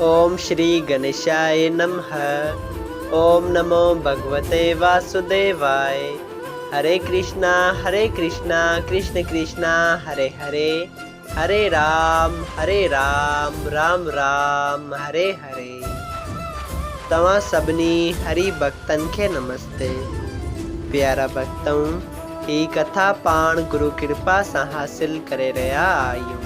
اوم شري گنيشائي نمه اوم نمو ڀڳوتي واسوديواء هري ڪرشنا هري ڪرشنا ڪرشن ڪرشنا هري هري هري رام هري رام رام رام هري هري توهان سڀني هري ڀڳتن کي نمستي پيارا ڀڳتؤن هي ڪٿا پاڻ گرو ڪرپا سان حاصل ڪري رهيا آهيون.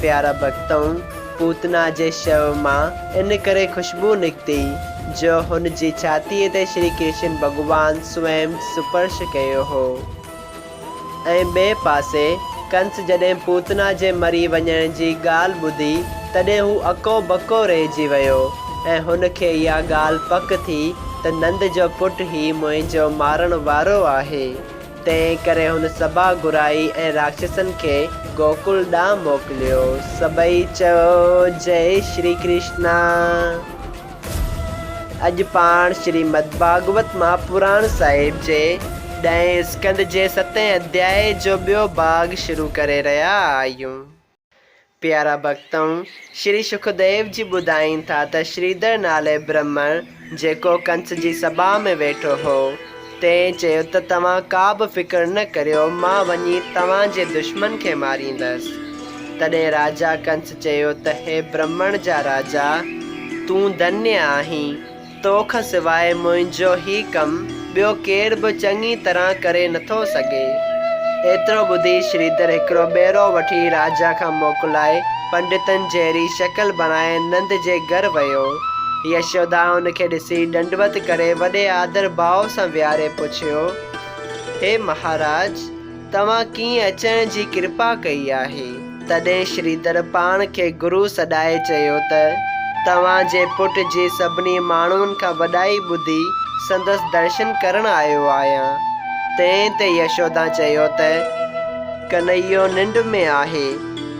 پيارا ڀڳتؤن! پوتنا جي شو مان ان ڪري خوشبو نڪتي، جو هن جي ڇاتيء تي شري ڪرشن ڀڳوان سوئم سپرش ڪيو هو ۽ ٻئي پاسي ڪنس جڏهن پوتنا جي مري وڃڻ جي ڳالهه ٻڌي، تڏهن هو اڪو بڪو رهجي ويو ۽ هن کي اها ڳالهه پڪ ٿي ته نند جو پٽ هي منهنجو مارڻ وارو آهي. تنهن ڪري هن سڀا گهرائي ۽ راڪشسن کي گوڪل ڏانهن موڪليو. سڀئي چيو، جئه شري ڪرشنا! اڄ پاڻ شريمد ڀاڳوت مهاپراڻ صاحب جي ڏهين اسڪنڌ جي ستين اڌيائي جو ٻيو ڀاڳ شروع ڪري رهيا آهيون. پيارا ڀڳتؤن، شري شڪديو جي ٻڌائين ٿا ته شريڌر نالي برهمڻ، جيڪو ڪنس جي سڀا ۾ ويٺو هو، تنهن چيو ته توهان ڪا به فڪر نه ڪريو، مان وڃي توهان جي دشمن کي ماريندس. تڏهن راجا ڪنس چيو ته هي برهمڻ جا راجا! تون ڌنيء آهين. تو کان سواء منهنجو هي ڪم ٻيو ڪير به چڱي طرح ڪري نٿو سگهي. ايترو ٻڌي شريڌر هڪڙو ٻيرو وٺي راجا کان موڪلائي پنڊتن جهڙي شڪل بڻائي نند جي گهر ويو. يشودا ان کي ڏسي ڏنڊوت ڪري وڏي آڌر ڀاء سان ويهاري پڇيو، هي مهاراج! توهان ڪيئن اچڻ جي ڪرپا ڪئي آهي؟ تڏهن شريڌر پاڻ کي گرو سڏائي چيو ته، توهان جي پٽ جي سڀني ماڻهن کان وڏائي ٻڌي سندس درشن ڪرڻ آيو آهيان. تنهن تي يشودا چيو ته، ڪنهيو ننڊ ۾ آهي،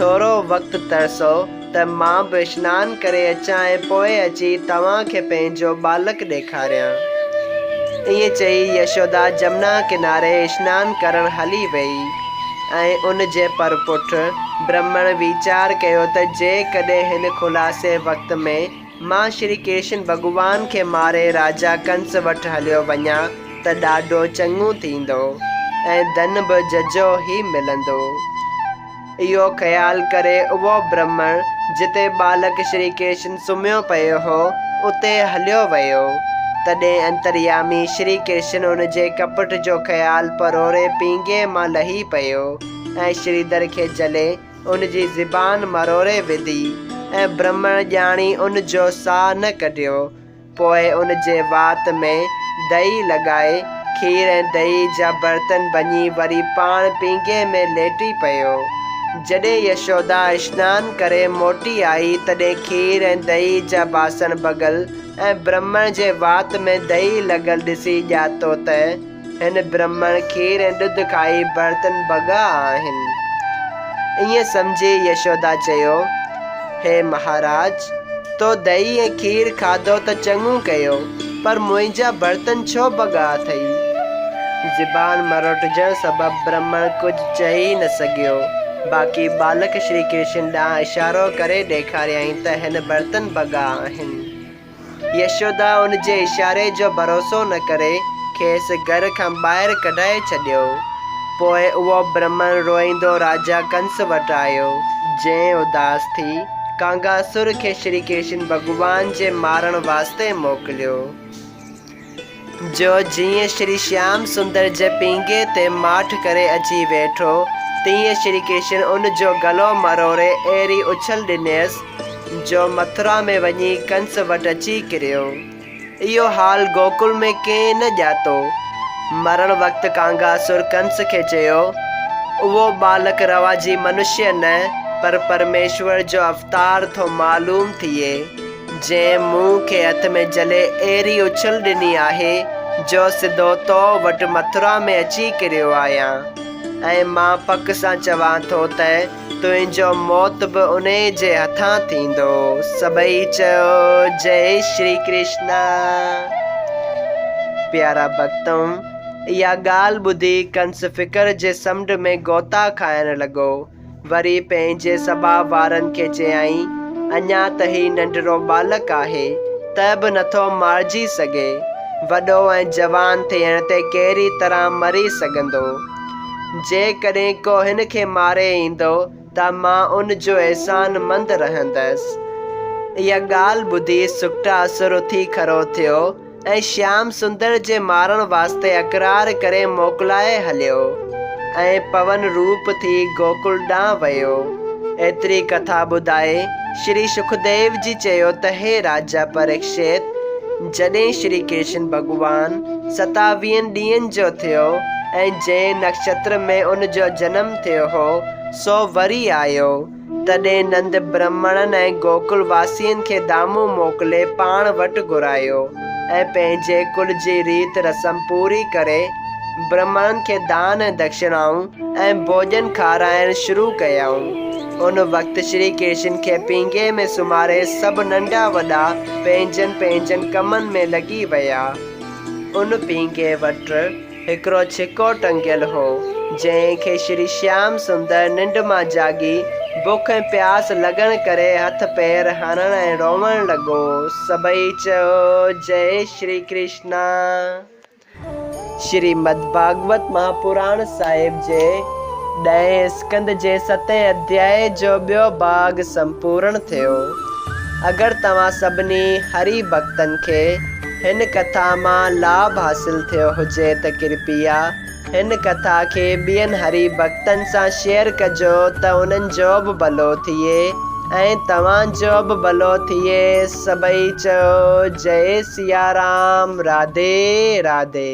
ٿورو وقت ترسو. ته مان به سنان ڪري اچان ۽ پوء اچي توهان کي پنهنجو ٻالڪ ڏيکاريان. ائين چئي يشودا جمنا ڪناري سنان ڪرڻ هلي ويئي ۽ ان جي پرپٺ برهمڻ ويچار ڪيو ته جيڪڏهن هن خلاصي وقت ۾ مان شري ڪرشن ڀڳوان کي ماري راجا ڪنس وٽ هليو وڃان ته ڏاڍو چڱو ٿيندو ۽ ڌن به ججهو ئي ملندو. اهو خيال ڪري اهو برهمڻ جتي ٻالڪ شري ڪرشن سمهيو پيو هو اتي هليو ويو. تڏهن انتريامي شري ڪرشن ان جي ڪپٽ جو خيال پروري پينگهي مان لهي پيو ۽ شريڌر کي جهلي ان جي زبان مروري وڌي ۽ برهمڻ ڄاڻي ان جو ساهه نه ڪڍيو. پوء ان جي وات ۾ دئي لڳائي، کير ۽ دئي جا برتن ڀڃي وري پاڻ پينگهي ۾ ليٽي پيو. جڏهن يشودا اشنان ڪري موٽي آئي تڏهن کير ۽ دئي جا باسڻ ڀڳل ۽ برهمڻ جي وات ۾ دئي لڳل ڏسي ڄاتو ته، هن برهمڻ کير ۽ ڏڌ کائي برتن ڀڳا آهن. ائين سمجهي يشودا چيو، هي مهاراج، تو دئي ۽ کير کاڌو ته چڱو ڪيو، پر منهنجا برتن ڇو ڀڳا اٿئي؟ زبان مروٽجڻ سبب برهمڻ ڪجهه چئي نه سگهيو، باقي ٻالڪ شري ڪرشن ڏانهن اشارو ڪري ڏيکاريائين ته هن برتن ڀڳا آهن. يشودا ان جي اشاري جو ڀروسو نه ڪري کيس گهر کان ٻاهر ڪڍائي ڇڏيو. پوء اهو برهمڻ روئيندو راجا ڪنس وٽ آيو، جنهن اداس ٿي ڪانگاسور کي شري ڪشن ڀڳوان جي مارڻ واسطي موڪليو. جو جيئن شري شيام سندر جي پينگهي تي ماٺ ڪري اچي ويٺو، تيئن شري ڪرشن ان جو گلو مروڙي اهڙي اڇل ڏنيس، جو مٿرا ۾ وڃي ڪنس وٽ اچي ڪريو. اهو حال گوڪل ۾ ڪنهن نه ڄاتو. مرڻ وقت ڪانگاسور ڪنس کي چيو، اهو ٻالڪ روا جي منشيه نه، پر پرميشور جو اوتار ٿو معلوم ٿئي. جنهن مون کي هٿ ۾ جهلي اهڙي اڇل ڏني آهي جو سڌو تو وٽ مٿرا ۾ اچي ڪريو آهيان ۽ مان پڪ سان چوان ٿو ته تنهنجو موت به انهي جي هٿان ٿيندو. سڀئي چيو جئي شري ڪرشنا. پيارا ڀڳتو! اها ڳالهه ٻڌي ڪنس فڪر جي سمنڊ ۾ غوطا کائڻ لڳو. وري پنهنجي سڀاء وارن کي چيائين، اڃا ته هي ننڍڙو ٻالڪ آهي، ته به نٿو مارجي سگهي، وڏو ۽ جوان ٿيڻ تي ڪهڙي طرح مري سگهندو؟ جيڪڏهن ڪو هن کي ماري ايندو ته مان ان جو احسان مند رهندس. اها ڳالهه ٻڌي سڪٽا سر اٿي کڙو ٿيو. ۽ شيام سندر جي مارڻ واسطي اقرار ڪري موڪلائي هليو ۽ پون روپ ٿي گوڪل ڏانهن ويو. ايتري ڪٿا ٻڌائي شري شڪديو جي چيو ته هي راجا پريڪشيت! جڏهن شري ڪرشن ڀڳوان ستاويهن ڏينهن جو ٿيو ۽ جنهن نڪشتر ۾ ان جو جنم ٿيو هو سو وري آيو، تڏهن نند برهمڻن ۽ گوڪل واسين کي دامون موڪلي پاڻ وٽ گهرايو ۽ پنهنجي ڪل جي ريت رسم پوري ڪري برهمڻن کي دان ۽ دکشڻائون ۽ ڀوڄن کارائڻ شروع ڪيائون. ان وقت شري ڪرشن کي پينگهي ۾ سمهاري سڀ ننڍا وڏا پنهنجن پنهنجن ڪمن ۾ لڳي ويا. ان پينگهي وٽ. هڪڙو ڇڪو ٽنگيل هو، جنهن کي شري شيام سندر ننڊ مان جاڳي، بک ۽ پياس لڳڻ ڪري هٿ پير هڻڻ ۽ روئڻ لڳو. سڀئي چيو، جئه شري ڪرشنا! شريمد ڀاڳوت مهاپراڻ صاحب جي ڏهين اسڪند جي ستين اڌياء جو ٻيو ڀاڳ سمپورڻ ٿيو. اگر توهان سڀني هري ڀڳتن کي هن ڪٿا مان لاڀ حاصل ٿيو هجي ته ڪرپيا هن ڪٿا کي ٻين هري ڀڳتن سان شيئر ڪجو ته انهن جو به ڀلو ٿئي ۽ توهان جو به ڀلو ٿئي سڀئي چئو جئي سيارام راڌي راڌي.